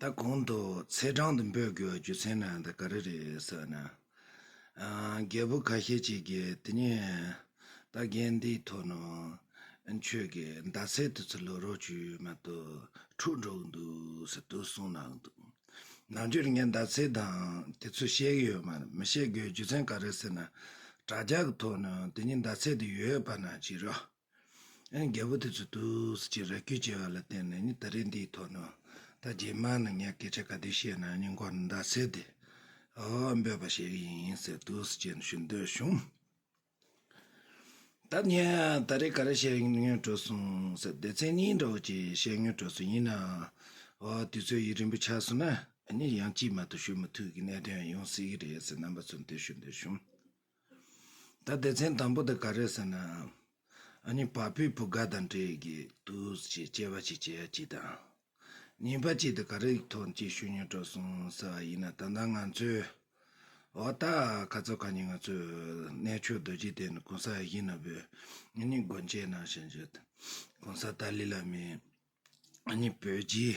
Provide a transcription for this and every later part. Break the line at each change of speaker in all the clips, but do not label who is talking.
ད་གོང་དུ་ཚེས་གྲངས་དུ་འབོད་དགོས་རྒྱུ་མཚན་ནི་འདི་ག་རེ་རེད་ཟེར་ན། རྒད་པོ་ཁ་ཤས་ཅིག་གིས་དེ་ཉིད་ད་རྒན་འདིའི་ཐོག་ནས་ཁྱོད་ཀྱི་ཟླ་ཚེས་དུས་ཚོད་ལོ་རོགས་བྱོས་མ་གཏོགས་འཁྲུག་འགྲོ་གི་འདུག་ཟེར་དུས་གསུངས་གནང་གི་འདུག་ནང་ཆོས་རིག་གནས་ཟླ་ཚེས་དང་དེ་ཚོ་བཤད་གི་ཡོད་མ་རེད་མི་བཤད་དགོས་རྒྱུ་མཚན་ག་རེ་ཟེར་ན་དྲ་རྒྱ་གི་ཐོག་ནས་དེ་ཉིད་ཟླ་ཚེས་དུ་ཡོད་པ་ན་བྱས་རོགས། རྒྱལ་པོ་དེ་ཚོས་ཏུའུ་སི་ཅི་ར་ཁྱུ་བྱས་པ་ལ་བརྟེན་ནས་ནི་ད་རེས་འདིའི་ཐོག་ནས་ད་རྗེས་མར་ནི་ངས་སྐད་ཆ་ག་དུས་བཤད་ན་སྙིང་ཁོག་ནས་འདར་སེ་དེ་འོ་འབོད་པ་བྱེད་ཀྱི་ཡིན་ཟེར་ཏུའུ་སི་ཅིས་ནི་ཞུ་འདོད་བྱུང། ད་ངས་ད་རེས་ག་རེ་བཤད་ཡོད་དྲོད་གསུངས་ཟེར་སྡེ་ཚན་གཉིས་འདྲ་བོ་ཅིག་བཤད་ཡོད་དྲོད་གསུངས་ཡིན་ནའང་འོ་དུས་ཚོད་ཡུན་རིང་པོ་ཆགས་སོང་ན་ནི་ཡང་ཅིས་མ་གཏོགས་ཞུ་མི་ཐུབ་ཀྱི་གནད་དོན་ཡང་ཡོང་སྲིད་ཀྱི་རེད་ཟེར་རྣམ་པ་ཚོར་འདོད་ཞུ་འདོད་བྱུང། ད་སྡེ་ཚན་དང་པོ་དེ་ག་རེད་ཟེར་ན། ཨ་ནི་བ་སྤུའི་བུ་ག་དང་འདྲེས་ཀྱི་འདུག་ཅེས་སྐྱེ་བ་ཅིག་བྱེད་ཡ་གཅིག་དང། ཉེས་པ་གཅིག་དེ་ག་རེ་ཡིག་ཐོག་ཅིག་ཤོད་ཉོས་དྲོ་སོང་ཟེར་བ་ཡིན་ན་ད་ལྟ་ང་ཚོའི། འོ་ད་ག་ཚོད་ག་ཉིན་ང་ཚོའི་གནས་མཆོག་རྡོ་རྗེ་གདན་དུ་གོང་ས་ཡི་ནོར་བུ་ཨ་ནི་སྒོ་འབྱེད་གནང་བཞིན་ཡོད། གོང་ས་ཏཱ་ལི་བླ་མས་ཨ་ནི་བོད་རྗེའི།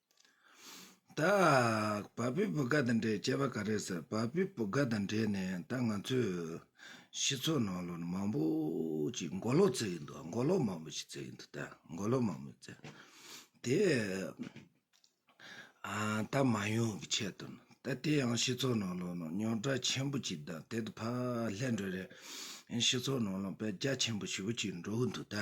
བདག། བ་སྤུའི་བུ་ག་དང་འདྲེས་བྱས་པ་ག་རེ་ཟེར་བ་སྤུའི་བུ་ག་དང་འདྲེས་ནས་ད་ང་ཚོས་སྤྱི་ཚོགས་ནང་ལོ་ན་མང་པོ་ཅིག་མགོ་ལོག་བརྩེགས་ཡིན་འདུག་མགོ་ལོག་མང་པོ་ཞིག་བརྩེགས་ཡིན་འདུག་ད་མགོ་ལོག་མང་པོ་བརྩེགས་དེ། ད་མ་ཡོང་གི་ཆེད་དུ་ད་དེ་ཡང་སྤྱི་ཚོགས་ནང་ལོ་ན་རྙོག་དྲ་ཆེན་པོ་ཅིག་དང་དེ་དང་ཕ་ལྷན་འགྲོ་རེས་སྤྱི་ཚོགས་ནང་ལོ་ན་བེད་རྒྱ་ཆེན་པོ་ཞིག་འགྲོ་གི་འདུག་ད།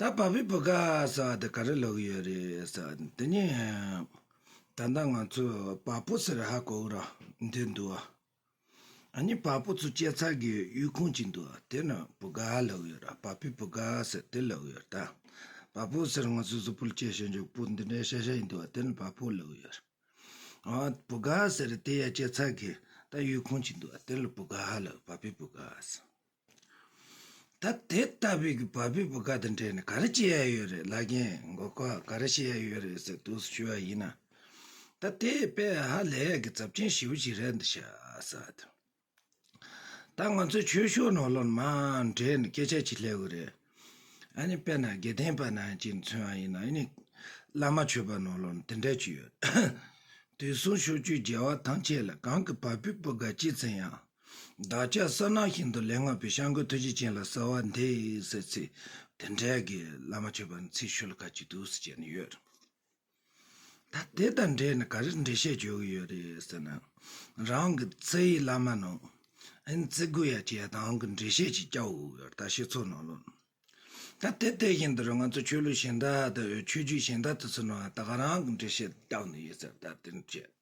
ད་བབས་པའི་བུ་ག་ས་བ་དེ་ག་རེ་ལོག་གི་ཡོད་རེད་ས་བ་དེ་དེ་ནས་ད་ལྟ་ང་ཚོས་བ་པོ་ཟེར་ཧ་གོ་ར་འདོད་འདུག་ཨ་ནི་བ་པོ་ཚོ་སྐྱེ་འཚར་གི་ཡུལ་ཁུངས་ཅིག་འདུག་དེ་ནས་བུ་ག་ལོག་ཡོད་ར་བབས་པའི་བུ་ག་ས་དེ་ལོག་ཡོད་ར་ད་བ་པོ་ཟེར་ང་ཚོས་གཟུགས་པོ་ལ་སྐྱེ་ཤེས་མཆོག་པོ་འདི་འདྲའི་ཤ་ཤ་ཡིན་འདུག་དེ་ནས་བ་པོ་ལོག་ཡོད་ར་ཨ་བུ་ག་ཟེར་དེ་ཡ་སྐྱེ་འཚར་གི་ད་ཡུལ་ཁུངས་ཅིག་འདུག་དེ་ལ་བུ་ག་ལོག་བབས་པའི་བུ་ག་ས། ད་དེ་ལྟ་བུའི་གི་བ་བུ་བུ་ག་དང་འབྲེལ་ནས་ག་རེ་བྱེད་ཡ་ཡོད་རེད་ལག་རྒན་མགོ་སྐོར་ག་རེ་བྱེད་ཡ་ཡོད་རེད་ཟེར་དུས་སུ་ཞུ་བ་ཡིན་ན། ད་དེ་དཔེ་ཧ་ལས་ཡག་གི་ཛབ་ཆེན་ཞེ་བོ་ཞིག་རེད་འདི་ཤ་ཟ་དེ། ད་ང་ཚོའི་ཆོས་ཕྱོགས་ནང་སློབ་མའང་འབྲེལ་ནས་སྐད་ཆ་བྱེད་སླེ་བོ་རེད། ཨ་ནི་དཔེ་ན་དགེ་ལྡན་པ་ནང་བཞིན་མཚོན་བ་ཡིན་ན་ཨི་ནི་བླ་མ་ཆོས་པ་ནང་སློབ་ནི་དེ་འདྲ་ཅིག་ཡོད། དུས་སུང་ཤོག་ཆོས་རྒྱལ་བ་ཐང་ཆད་ལ་གང་གི་བ་བུ་བུ་ག་བྱེད་ཟིན་ཡང། བདག་ཅག་ས་ནག་ཞིང་དུ་ལས་སྔགས་པའི་ཤངས་ཀུན་ཐུགས་རྗེ་ཅན་ལ་གསོལ་བ་འདེབས་ཟེར་ཚེ་དེ་འདྲ་གི་བླ་མ་མཆོད་པ་ཚིག་ཤོད་ལ་ག་ཅིག་འདུག་ཟེར་བྱས་ནས་ཡོད། ད་དེ་དང་འབྲེལ་ནས་ག་རེ་འགྲེལ་བཤད་བྱེད་དགོས་ཡོད་རེད་ཟེར་ན། རང་གི་རྩེ་ཡི་བླ་མ་ནང་ཨིན་རྩེ་དགོས་ཡ་བྱས་དང་གི་འགྲེལ་བཤད་ཅིག་བྱ་འོས་ཡོད་ད་ཤེས་ཚོར་གནང་ལོ། ད་དེ་དེ་བཞིན་དུ་ར་ང་ཚོ་ཆོས་ལུགས་གཞན་དག་དང་ཆོས་བརྒྱུད་གཞན་དག་ཏུ་ཚུར་ནང་ད་ག་རང་གི་འགྲེལ་བཤད་བརྟག་ནས་ཡོད་ཟེར་ད་དེ་འདྲ་བྱས།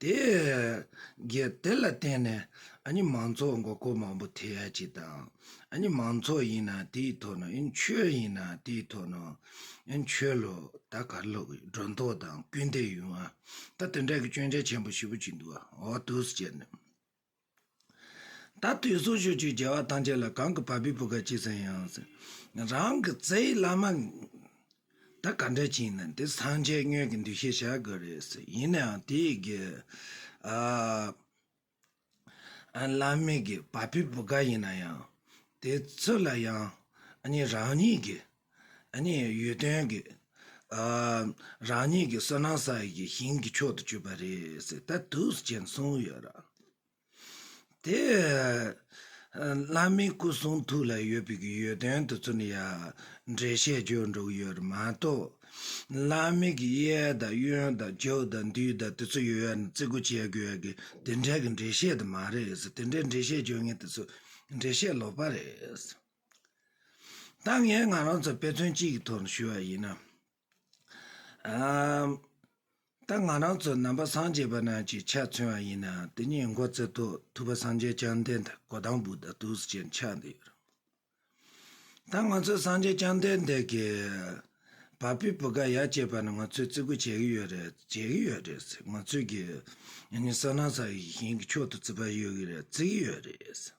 དེ་ལ་བརྟེན་ནས་མང་ཚོགས་མགོ་སྐོར་མང་པོ་ཐེ་ཡ་གཅིག་དང། མང་ཚོགས་ཡིན་ན་དེའི་ཐོག་ནས་ཆོས་ཡིན་ན་དེའི་ཐོག་ནས་ཆོས་ལ་ད་གར་ལོག་གི་སྒྲོ་འདོགས་དང་སྐུལ་འདེད་ཡོང་བ། ད་དེ་འདྲ་གི་སྐྱོན་ཆ་ཆེན་པོ་བཞི་པོ་གཅིག་འདུག་ཨོ་ཏུས་བཅས་ནས། ད་དུས་གསུང་ཞུ་བཅུའི་རྒྱལ་བ་ཐམས་ཅད་ལ་གང་གི་བ་སྤུའི་བུ་ག་གཅིག་ཙམ་ཡང་ཟིན། རང་གི་རྩེ་ཡི་བླ་མ། ད་ག་འདྲ་ཅིག་ཡིན་ན་འདི་སངས་རྒྱས་སྨྱོས་ཀྱི་འདུ་ཤེས་བྱ་དགོས་རེད་ཟེར་ཡིན་ནའང་དེ་ཡི་གེ། བླ་མེད་ཀྱི་བ་སྤུའི་བུ་ག་ཡིན་ན་ཡང་དེ་ཚོ་ལ་ཡང་གཉིས་རང་ཉིད་ཀྱི། ནི་ཡུལ་དོན་གྱི། རང་ཉིད་ཀྱི་བསོད་ནམས་བསགས་ཡས་ཀྱི་ཞིང་གི་མཆོག་ཏུ་གྱུར་པ་རེད་ཟེར་ད་དུས་སུ་མཁྱེན་གསུངས་ཡོད་ར། དེ། བླ་མའི་སྐུ་གསུང་ཐུགས་ལ་ཡོད་པའི་གི་ཡུལ་དོན་དུ་ཚུར་ནས་ཡ། འགྲེལ་བཤད་བརྗོད་འགྲོ་ཡོད་ར་མ་གཏོགས། བླ་མེད་ཀྱི་གཡས་དང་གཡོན་དང་རྒྱབ་དང་འདུས་དང་དེ་ཚོ་ཡོད་ཡ་ནི་བརྩི་གོ་བྱེད་དགོས་ཡ་གི་དེ་འདྲའི་གི་འགྲེལ་བཤད་དུ་མ་རེད་ཟེར་དེ་འདྲའི་འགྲེལ་བཤད་བརྗོད་ངེས་དེ་ཚོ་འགྲེལ་བཤད་ལོག་པ་རེད་ཟེར། ད་ངས་ང་རང་ཚོ་དཔེ་མཚོན་གཅིག་གི་ཐོག་ནས་ཞུས་པ་ཡིན་ན། ད་ང་རང་ཚོ་ནང་པ་སངས་རྒྱས་པ་རྣམས་ཀྱིས་ཕྱག་མཚོན་བ་ཡིན་ན་དེ་ཉིད་མགོ་བརྩེ་ཐོག་ཐུབ་པ་སངས་རྒྱས་བསྐྱངས་ལྡན་དང་གོ་དང་བུ་དང་ཐུགས་སུ་ཆེར་འཆགས་འདི་ཡོད། ད་ང་ཚོ་སངས་རྒྱས་བསྐྱངས་ལྡན་འདས་ཀྱི་བ་སྤུའི་བུ་ག་ཡར་བཅད་པ་ནི་ང་ཚོས་བརྩི་བཀུར་བྱེད་ཀྱི་ཡོད་རེད་བྱེད་ཀྱི་ཡོད་རེད། ང་ཚོས་ཀྱི་ཡང་ནི་བསོད་ནམས་ས་ཡི་ཞིང་གི་མཆོག་ཏུ་བརྩི་བ་ཡོད་ཀྱི་རེད་བརྩི་གི་ཡོད་རེད།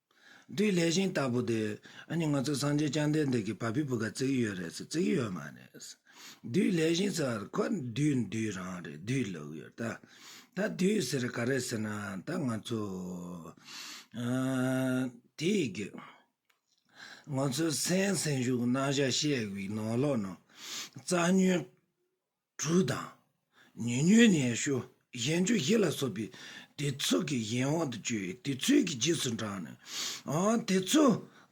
དེའི་ལས་གཞན་ལྟ་བུ་དེ། ཨ་ནི་ང་ཚོ་སངས་རྒྱས་བསྐྱངས་ལྡན་འདས་ཀྱི་བ་སྤུའི་བུ་ག་བརྩིགས་ཡོད་རེད་ཟེར་བརྩིགས་ཡོད་མ་རེད། བདུད་ལས་གཞན་ཟེར་བར་ཁོ་བདུད་བདུད་རང་རེད་བདུད་ལོག་ཡོད་ད། ད་བདུད་ཟེར་ག་རེད་ཟེར་ན་ད་ང་ཚོ། དེ་གི། ང་ཚོའི་སེམས་སེམས་ཤུགས་རྣམ་གཞག་ཤེས་དགོས་ནོ་ལོག་ནོ། རྩ་ཉོན། གྲུ་དང། ཉུལ་ཉུལ་ནས་ཞུ་གཞན་ཆུ་བཞི་ལ་སོགས་པའི་སྡེ་ཚུགས་ཀྱི་གཞན་དབང་དུ་བཅོལ་བའི་དུས་ཚོད་ཀྱི་རྗེས་སུ་འབྲངས་ནས། དེ་ཚོ་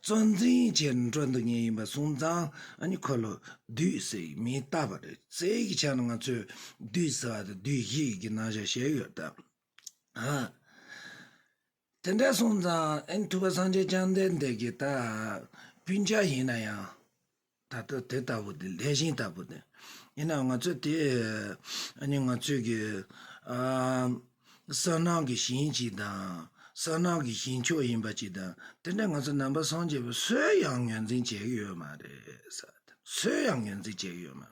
གཙོ་འཛིན་བྱས་ནས་འགྲོ་འདུག་ཉལ་ཡིན་པ་སོང་ཙང་ཨ་ཁོ་ལོ་བདུད་ཟེར་གྱི་མིང་བཏགས་པ་རེད་ཟེར་གྱི་ཆ་ནས་ང་ཚོས་བདུད་ཟེར་བ་དང་བདུད་བཞི་ཡི་གི་ནང་བཞག་བྱས་ཡོད་སྟབས། དེ་འདྲ་སོང་ཙང་ཨེན་ཐུབ་པ་སངས་རྒྱས་བསྐྱངས་ལྡན་འདས་ཀྱི་ད་སྤུན་ཆ་ཡིན་ན་ཡང། ད་ལྟ་དེ་ལྟ་བུ་དེ་ལྷས་བྱིན་ལྟ་བུ་དེ། ཡིན་ནའང་ང་ཚོས་དེ་ཨ་ནི་ང་ཚོས་ཀྱི་གསང་སྣང་གི་ཞིང་གཅིག་དང། གསང་སྣང་གི་ཞིང་མཆོག་ཡིན་པ་གཅིག་དང། དེ་འདྲ་ང་ཚོ་ནང་པ་སངས་རྒྱས་པ་སུས་ཡང་ངོས་འཛིན་བྱེད་ཀྱི་ཡོད་མ་རེད། སུས་ཡང་ངོས་འཛིན་བྱེད་ཀྱི་ཡོད་མ་རེད།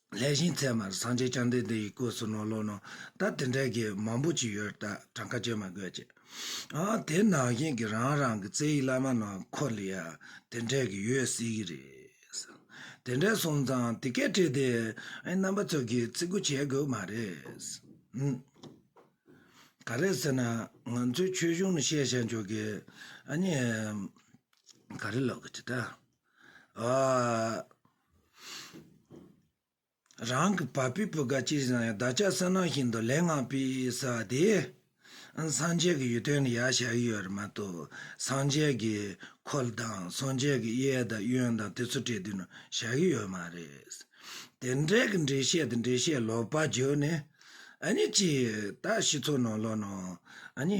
ལྷས་ཤིང་ཚལ་མར་སངས་རྒྱས་བསྐྱངས་ལྡན་དེ་ཡི་གོས་སུ་ནོར་ལོ་ནོར་ད་དེ་འདྲའི་གེགས་མང་པོ་ཅིག་ཡོད་ད་གྲངས་ཀ་བཅད་མ་དགོས་ཀྱི་ཨ་དེ་ནང་བཞིན་གྱི་རང་རང་གི་རྩེ་ཡི་བླ་མ་ནང་འཁོར་ལ་ཡང་དེ་འདྲའི་གེགས་ཡོད་སྲིད་ཀྱི་རེད་དེ་འདྲའི་སོང་ཙང་དེ་སྐད་བྲིས་ཏེ་རྣམ་པ་ཚོས་གིས་བརྩི་བཀུར་བྱེད་དགོས་མ་རེད་འམ། ག་རེད་ཟེར་ན་ང་ཚོའི་ཆོས་གཞུང་ནས་བཤད་བཤད་འཇོག་གི་ཨ་ཉེ། ག་རེ་ལབ་དགོས་ཀྱི་ད། ཨ། རང་གི་བ་སྤུའི་བུ་ག་ཅིག་བཞག་ཡང་བདག་ཅག་བསོད་ནམས་ཤིན་ཏུ་ལེགས་བསྔགས་པས་ས་དེ་སངས་རྒྱས་ཀྱི་ཡུལ་དོན་དུ་ཡར་བཞག་ཡོད་རེད་མ་གཏོགས་སངས་རྒྱས་ཀྱི་འཁོར་ལོ་དང་སངས་རྒྱས་ཀྱི་གཡས་དང་གཡོན་དང་དེ་ཚོ་བྲིས་དོན་དུ་བཞག་གི་ཡོད་མ་རེད། དེ་འདྲའི་གི་འགྲེལ་བཤད་དང་འགྲེལ་བཤད་ལོག་པ་བརྗོད་ནས་ཨ་ནི་ཅི་ད་ཤི་ཚོགས་ནང་ལོག་ནང་ཨ་ནི།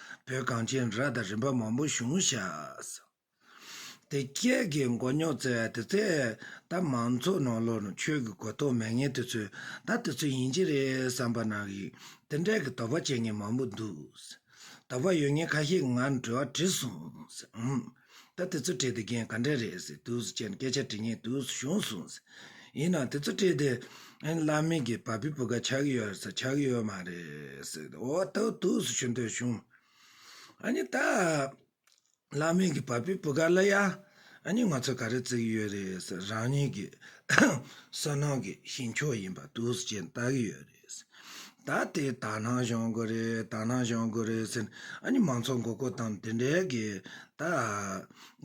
བོད་གངས་ཅན་ར་དང་རིམ་པ་མང་པོ་བཞུགས་བཞག། དེ་སྐད་ཀྱི་མགོ་རྙོག་བཙལ་བ་དེ་ཚེ་ད་མང་ཚོགས་ནང་ལོ་ན་ཆོས་ཀྱི་གོ་རྟོགས་མེད་ངན་དེ་ཚོས་ད་དེ་ཚོ་ཡིན་གྱི་རེད་བསམ་པ་ན་ཡི་དེ་འདྲ་གི་དོགས་པ་བྱེད་ངན་མང་པོ་འདུག། དོགས་པ་ཡོད་ངན་ཁ་ཤས་ང་འདྲི་བ་དྲིས་སོང། ད་དེ་ཚོ་བྲིས་ཏེ་རྒྱན་ག་འདྲས་རེད་ཟེར་དུས་སུ་ཁྱེད་ནས་སྐད་ཆ་དྲི་ངེས་དུས་སུ་བྱུང་གསུང་ཟེར། ཡིན་ནའང་དེ་ཚོ་བྲིས་ཏེ། བླ་མེད་ཀྱི་བ་སྤུའི་བུ་ག་ཆགས་ཀྱི་ཡོད་རེད་ཟེར་ཆགས་ཀྱི་ཡོད་མ་རེད་ཟེར་ཏེ་འོ་ད་དུས་སུ་བྱུང་དུས་བྱུང། ཨཱ་ད། བླ་མེད་ཀྱི་བ་སྤུའི་བུ་ག་ལ་ཡ། ཨཱ་ང་ཚོས་ག་རེ་བརྩི་གི་ཡོད་རེད་ཟེར་རང་ཉིད་ཀྱི། བསོད་ནམས་ཀྱི་ཞིང་མཆོག་ཡིན་པ་དུས་སུ་ཁྱེད་ནས་བལྟ་གི་ཡོད་རེད། ད་དེ་ད་ནང་བཞོན་དགོས་རེད་ད་ནང་བཞོན་དགོས་རེད་ཟེར་ཨ་ནི་མང་ཚོགས་མགོ་སྐོར་དང་དེ་འདྲའི་གི་ད་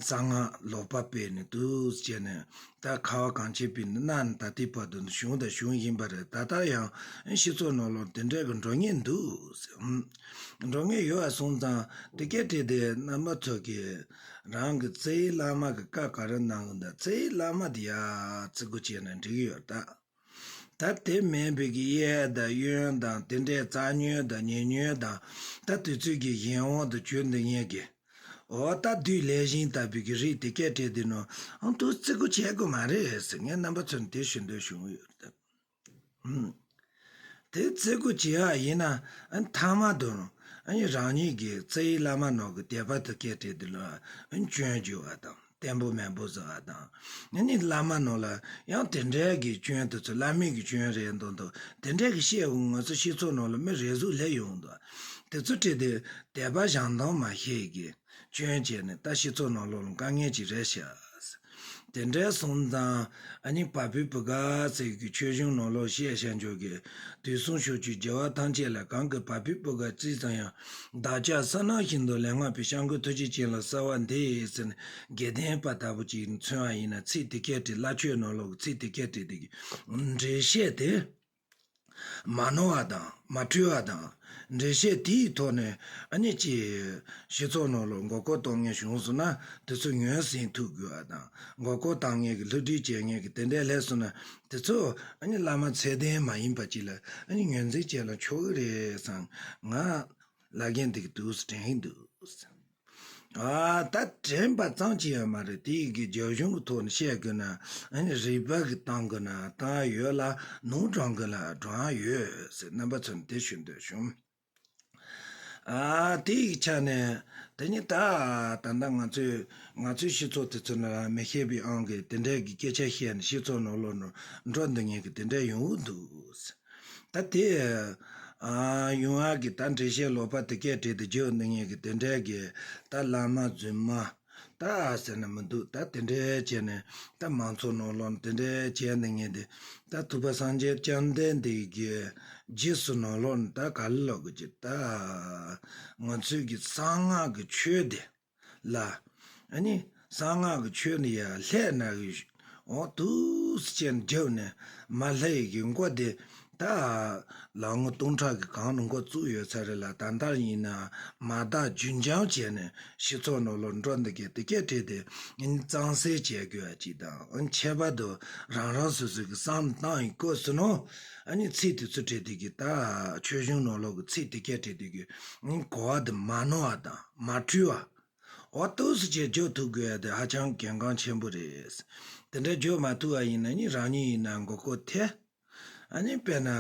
གསང་སྔགས་ལོག་པ་སྤེལ་ནས་འདུག་བྱས་ནས་ད་ཁ་བ་གང་བྱེད་པའི་ནི་གནའ་ནས་ད་ལྟའི་བར་དུ་གཞུང་དང་གཞུང་ཡིན་པ་རེད་ད་ལྟ་ཡང་ཤི་ཚོ་ནོར་ལོག་དེ་འདྲའི་གི་འགྲོ་ངེས་འདུག་འགྲོ་ངེས་ཡོད་བ་སོང་ཙང་དེ་སྐད་དྲིས་ཏེ་རྣམ་པ་ཚོས་གི་རང་གི་རྩེའི་བླ་མ་གི་བཀའ་ག་རེ་གནང་གི་འདུག་རྩེའི་བླ་མ་དེ་ཡ་རྩི་དགོས་བྱས་ནས་འགྲིག་ཡོད་ད། ད་དེ་མིན་བོད་ཀྱི་གཡས་དང་གཡོན་དང་དེ་འདྲའི་རྩ་ཉོན་དང་ཉེ་ཉོན་དང་ད་དུས་ཚོད་ཀྱི་གཞན་དབང་དུ་གྱུར་འདུག་ཉན་གི། འོ་ད་དུས་ལས་གཞན་ལྟར་བོད་ཀྱི་རིགས་དེ་སྐད་བྲིས་དེ་ནོར་ཨང་དུ་བརྩི་དགོས་བྱེད་དགོས་མ་རེད་ཟེར་ངའི་རྣམ་པ་ཚོར་འདི་ཞུ་འདོད་བྱུང་ཡོད་དེ། དེ་བརྩི་དགོས་བྱེད་ཡག་ཡིན་ན་མཐའ་མ་དུ་རང་ཉིད་ཀྱི་རྩེ་ཡི་བླ་མ་ནོར་གྱི་དད་པ་དུ་སྐད་བྲིས་དེ་ལོས་འབྱོན་རྒྱུ་བ་དང། བརྟན་པོ་དམན་པོ་ཟེར་བ་དང། དེ་ནི་བླ་མ་རྣམས་ལ་ཡང་དེ་འདྲའི་གི་སྐྱོན་དེ་ཚོ་བླ་མེད་གི་སྐྱོན་རེད་མདོག་མདོག་དེ་འདྲའི་གི་བཤད་དགོས་ངོ་ཚོ་ཤི་ཚོགས་རྣམས་ལ་མི་རེ་ཟུག་ལེ་ཡོང་དོ། དེ་ཚོ་བཀྲིས་དེ་དད་པ་ཞང་དོང་མ་ཤེས་གི་སྐྱོན་བྱས་ནས་ད་ཤི་ཚོགས་རྣམས་ལོག་ལ་དཀའ་ངལ་ཅིག་རེ་བཤད། དེ་འདྲའི་སོང་ཙང་ཨ་ནི་བ་བུ་བུ་ག་ཚོས་གི་ཆོས་གཞུང་རྣམས་ལོག་བཤད་བཤད་འཇོག་གི་དུས་སོང་ཤོག་ཆུ་རྒྱལ་བ་ཐང་ཆད་ལ་གང་གི་བ་བུ་བུ་ག་ཅི་ཙམ་ཡང་བདག་ཅག་ས་ནག་བཞིན་དུ་ལས་སྔགས་པའི་ཤངས་ཀུན་ཐུགས་རྗེ་ཅན་ལ་གསོལ་བ་འདེབས་ཟེར་ནས་དགེ་ལྡན་པ་ལྟ་བུ་ཅིག་མཚོན་བ་ཡིན་ན་ཚིག་འདི་སྐད་བྲིས་སླ་ཆོས་ནོར་ལུག་ཚིག་འདི་སྐད་བྲིས་འདི་འགྲེལ་བཤད་དེ་མ་ནོར་བ་དང་མ་འཁྲུལ་བ་དང། འགྲེལ་བཤད་དེ་ཡི་ཐོག་ནས་ཨ་ནི་ཅི། ཞེས་ཚོགས་ནོར་ལུག་མགོ་སྐོར་གཏོང་ངེས་བྱུང་སོང་ན་དེ་ཚོ་ཉོས་ཟིན་ཐུག་དགོས་བ་དང་མགོ་སྐོར་བཏང་ངེས་ཀྱི་ལྷུ་སྒྲིལ་བྱས་ངེས་ཀྱི་དེ་འདྲའི་ལྷད་སོང་ན་དེ་ཚོ་བླ་མ་ཚད་ལྡན་མ་ཡིན་པ་གཅིག་ལ་ངོས་འཛིན་བྱས་ལ་ཆོག་གི་རེད་བསམ། ང་བླ་རྒན་དེ་གི་དུས་སུ་དྲན་གྱི་འདུག་བསམ། ད་དྲན་པ་ཙམ་གྱི་ཡང་མ་རེད་དེ་གི་རྒྱ་གཞུང་གི་ཐོག་ནས་བཤད་དགོས་ན་རིག་པ་གི་གཏང་དགོས་ན་གཏང་ཡོད་ལ་ནོར་བགྲང་དགོས་ན་བགྲང་ཡོད་ཟེར་རྣམ་པ་ཚོ་ནས་དེ་ཞུ་འདོད་བྱུང། དེ་ཡི་ཆ་ནས་དེ་ཉིད་ད་ད་ལྟ་ང་ཚོས་ང་ཚོའི་སྤྱི་ཚོགས་དེ་ཚོ་ན་མི་ཤེས་པའི་ཨང་གིས་དེ་འདྲའི་གི་སྐད་ཆ་བཤད་ནས་སྤྱི་ཚོགས་ནོར་ལོག་འགྲོ་འདི་ངེས་ཀྱི་དེ་འདྲའི་ཡོང་འུ་འདུག་ད་དེ་ཡོང་ཨ་གི་ད་འགྲེལ་བཤད་ལོག་པ་དེ་སྐད་བྲིས་ཏེ་བརྗོད་འདི་ངེས་ཀྱི་དེ་འདྲའི་གི་ད་བླ་མ་རྫུན་མ། ད་ཟེར་ནི་མི་འདུག་ད་དེ་འདྲའི་བྱས་ནས་ད་མང་ཚོགས་ནང་ལོག་ནས་དེ་འདྲའི་བྱས་འདི་ངས་འདི་ད་ཐུབ་པ་སངས་རྒྱས་བསྐྱངས་བསྡད་འདི་རྒྱུའི་རྗེས་སུ་ནང་ལོག་ནས་ད་ག་ལ་ལོག་དགོས་ཀྱི་ད་ང་ཚོས་ཀྱི་གསང་སྔགས་ཀྱི་ཆོས་འདི་ལ་ཨ་ནི་གསང་སྔགས་ཀྱི་ཆོས་འདི་ཡར་ལྷས་ནར་གྱི། འོག་ཏུ་སྤྱན་བརྒྱབ་ནས་མ་ལྷ་ཡི་གེ་མགོ་བདེ་ད་ལ་ངོ་སྟོང་ཕྲག་གི་གང་རུང་མགོ་བཙུགས་ཡོད་ཚ་རེད་ལ་ད་ལྟར་ཡིན་ན་མ་དག་རྒྱུན་འབྱམས་བྱས་ནས་ཤི་ཚོགས་ནོར་ལོག་འགྲོ་འདི་གས་དེ་གས་བྲིས་ཏེ་གཙང་སེལ་བྱས་དགོས་པ་ཅིག་དང་ཁྱད་པར་དུ་རང་རང་སོ་སོའི་གི་སང་ཏང་ཡི་སྐོར་ཟིན་ནོ་ནི་ཚིག་དེ་ཚོ་བྲིས་དུས་ཀྱི་ད་ཆོས་གཞུང་ནོར་ལོག་གི་ཚིག་དེ་གས་བྲིས་དུས་ཀྱི་གོ་བ་དེ་མ་ནོར་བ་དང་མ་འཁྲུལ་བ། འོ་ལྟོས་སུ་བྱས་བརྗོད་ཐུབ་དགོས་དེ་ཧ་ཅང་གལ་འགངས་ཆེན་པོ་རེད། དེ་འདྲ་བརྗོད་མ་ཐུབ་བ་ཡིན་ན་ནི་རང་ཉིད་ཡིན་ན་མགོ་སྐོར་ཐལ། ཨ་ནི་དཔེར་ན།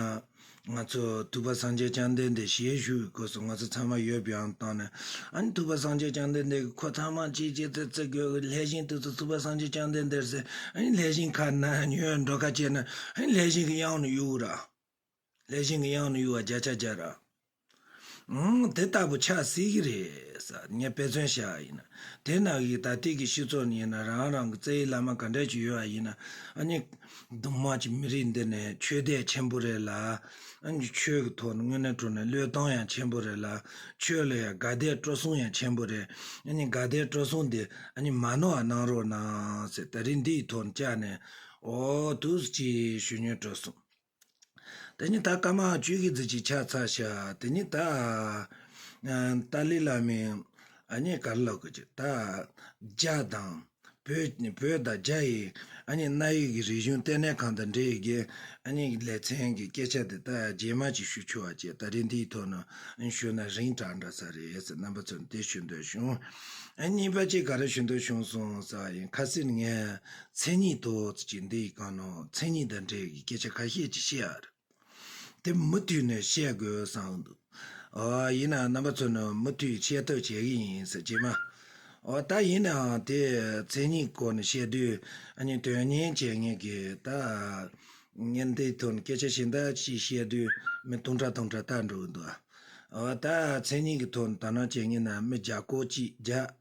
ང་ཚོ་ཐུབ་པ་སངས་རྒྱས་བསྐྱངས་ལྡན་འདས་ཞལ་བཞུགས་ཀྱི་སྐོར་སོགས་ང་ཚོ་ཚང་མ་ཡོད་པའང་བཏང་ནས་ཨ་ནི་ཐུབ་པ་སངས་རྒྱས་བསྐྱངས་ལྡན་འདས་ཀྱི་འཁོར་ཚང་མ་གཅིག་གཅིག་ཚེ་ཚེ་དགོས་གི་ལྷས་བཞིན་དུས་སུ་ཐུབ་པ་སངས་རྒྱས་བསྐྱངས་ལྡན་འདས་ཟེར་ཨ་ནི་ལྷས་བཞིན་ཁ་ན་ཉོན་འགྲོ་ཁ་བྱས་ན་ཨ་ནི་ལྷས་བཞིན་གྱི་དབྱངས་ནི་གཡོ་འུར་ར། ལས་གཞན་གྱི་དབྱངས་ནི་གཡུ་བ་བརྒྱ་ཆ་བརྒྱ་ར། དེ་ལྟ་བུ་ཆགས་སྲིད་ཀྱི་རེད། ངས་དཔེ་མཚོན་བྱས་པ་ཡིན། དེ་ནང་གི་ད་ལྟའི་གི་ཤི་ཚོ་ནི་རང་རང་གི་རྩེ་ཡི་བླ་མ་ག་འདྲས་ཀྱི་ཡོད་པ་ཡིན། གདོང་དམར་གྱི་མི་རིགས་འདི་ནི་ཆོས་དད་ཆེན་པོ་རེད་ལ། ཆོས་ཀྱི་ཐོག་ནས་དངོས་གནས་གྲུབ་ནས་བློས་བཏང་ཡང་ཆེན་པོ་རེད་ལ། ཆོས་ལ་ཡང་དགའ་དད་སྤྲོ་གསུང་ཡང་ཆེན་པོ་རེད། དགའ་དད་སྤྲོ་གསུང་དེ་མ་ནོར་བ་གནང་རོགས་གནང། ད་རིང་འདི་ཡི་ཐོག་ནས་བཅར་ནས། འོ་ཐུགས་རྗེ་ཆེ་ཞུ་ཉོན་སྤྲོ་གསུངས། དེ་ནས་ད་ཀ་མ་བཅུད་ཀྱི་རྫས་ཀྱིས་ཕྱག་འཚལ་བྱ། དེ་ནས་ད། ཏཱ་ལའི་བླ་མས། ཨ་མྱེས་ག་རེ་ལ་དགོས་ཀྱི། ད། རྒྱ་དང། བོད། བོད་དང་རྒྱ་ཡི། ཨ་མྱེས་གནའ་ཡིག་གི་རིག་གཞུང་ལྟེ་གནས་ཁང་དང་འབྲེལ་ཡོད་འགན། ཨ་མྱེས་ཀྱི་ལེ་ཚན་གྱི་སྐད་ཆ་དེ་ད་རྗེས་མ་ཅིག་ཞུ་ཆོག་ཅེས་ད་རེས་འདིའི་ཐོག་ནས་ཞུས་ན་རིང་དྲག་འདྲ་ས་རེད་ཟེར་རྣམ་པ་ཚོས་འདི་ཞུ་འདོད་བྱུང། གཉིས་པ་ཅིག་ག་རེ་ཞུ་འདོད་བྱུང་སོང་ས་ཡིན་ཁ་སིར་ངས། མཚན་ཉིད་དུ་ཅི་འདི་གང་ནོ་མཚན་ཉིད་དང་འབྲེལ་བའི་སྐད་ཆ་ཁ་ཤས་ཅིག་བཤད་ཨ་རེད། དེ་མུ་མཐུད་ནས་བཤད་དགོས་བསམ་འདུག་ཨོ་ཡིན་ནའང་རྣམ་པ་ཚོ་ནི་མུ་མཐུད་ཤེས་ཐབས་བྱེད་གི་ཡིན་ཟེར་གྱི་མ་ཨོ་ད་ཡིན་ནའང་དེ་མཚན་ཉིད་སྐོར་ནས་བཤད་དུས་ཨ་ནི་དོན་གཉེར་བྱེད་ངེས་གི་ད་ངས་འདི་ཐོག་ནས་སྐད་ཆ་ཞེ་འདྲ་ཞིག་བཤད་དུས་མི་ཐུང་འདྲ་ཐུང་འདྲ་ལྟ་འགྲོ་གི་འདུག་ཨ་ད་མཚན་ཉིད་ཀྱི་ཐོག་ནས་དོ་སྣང་བྱེད་ངེས་ན་མི་བརྒྱ་སྐོར་ཅིག་བརྒྱ།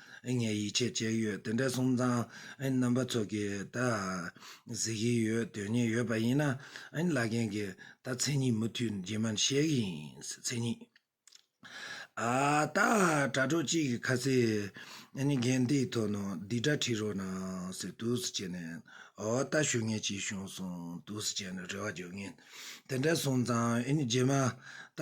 ངས་ཡིད་ཆེས་བྱས་ཡོད་དེ་འདྲའི་སོམ་ཚང་རྣམ་པ་ཚོ་གི་ད་གཟིགས་ཀྱི་ཡོད་དོན་སྙིང་ཡོད་པ་ཡིན་ན་བླ་རྒན་གི་ད་མཚན་ཉིད་མུ་མཐུད་རྗེས་མར་བཤད་ཀྱི་ཡིན་མཚན་ཉིད་ཨ་ད་དྲ་གྲོགས་གཅིག་གི་ཁ་ཟས་རྒན་དེའི་ཐོག་ནང་སྡིག་སྒྲ་ཁྲིད་རོགས་གནང་ཟེར་དུས་སུ་བྱས་ནས་ཨོ་ད་ཞུ་ངེས་ཅིག་བྱུང་སོང་དུས་སུ་བྱས་ནས་རེ་བ་རྒྱག་ངེས། དེ་འདྲ་སོང་ཙང་རྗེས་མ་ད་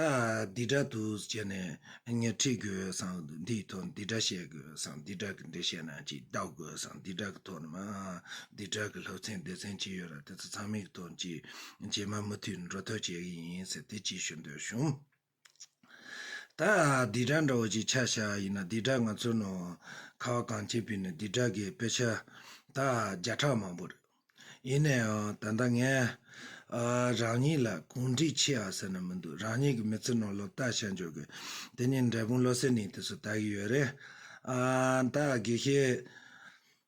འདི་འདྲ་འདུག་བྱས་ནས་ངས་ཁྲིད་དགོས་སམ་འདིའི་ཐོག་འདི་འདྲ་བཤད་དགོས་སམ་འདི་འདྲ་གི་འདི་བཤད་ན་ཅིག་ལྡག་དགོས་སམ་འདི་འདྲ་གི་ཐོག་ནས་མ་འདི་འདྲ་གི་ལྷག་མཚན་སྡེ་ཚན་ཅིག་ཡོད་ར་དེ་ཚོ་ཚང་མའི་ཐོག་ཅིག་རྗེས་མ་མུ་མཐུད་འགྲོ་ཐབས་བྱེད་ཀྱི་ཡིན་ཟེར་དེ་ཅིག་ཞུ་འདོད་བྱུང། ད་བདེ་དགྲ་འདྲ་བོ་ཅིག་ཆ་བཞག་ཡིན་ན་བདེ་དགྲ་ང་ཚོ་ནོ། ཁ་བ་གངས་ཅན་བོད་ནི་བདེ་དགྲ་གི་དཔེ་ཆ་ད་བརྒྱ་ཕྲག་མང་པོ་རེད། ཡིན་ན་ཡང་ད་ལྟ་ངས། རང་ཉིད་ལ་གུང་བསྒྲིགས་ཆེ་ཨ་ཟེར་ན་མི་འདུག་རང་ཉིད་ཀྱི་མི་ཚེ་ནང་སློབ་གྲྭ་ཤར་འཇོག་གི་དེ་ནི་འབྲས་སྤུངས་བློ་གསལ་ནི་དེ་སུ་ལྟ་གི་ཡོད་རེད། ད་དགེ་བཤེས།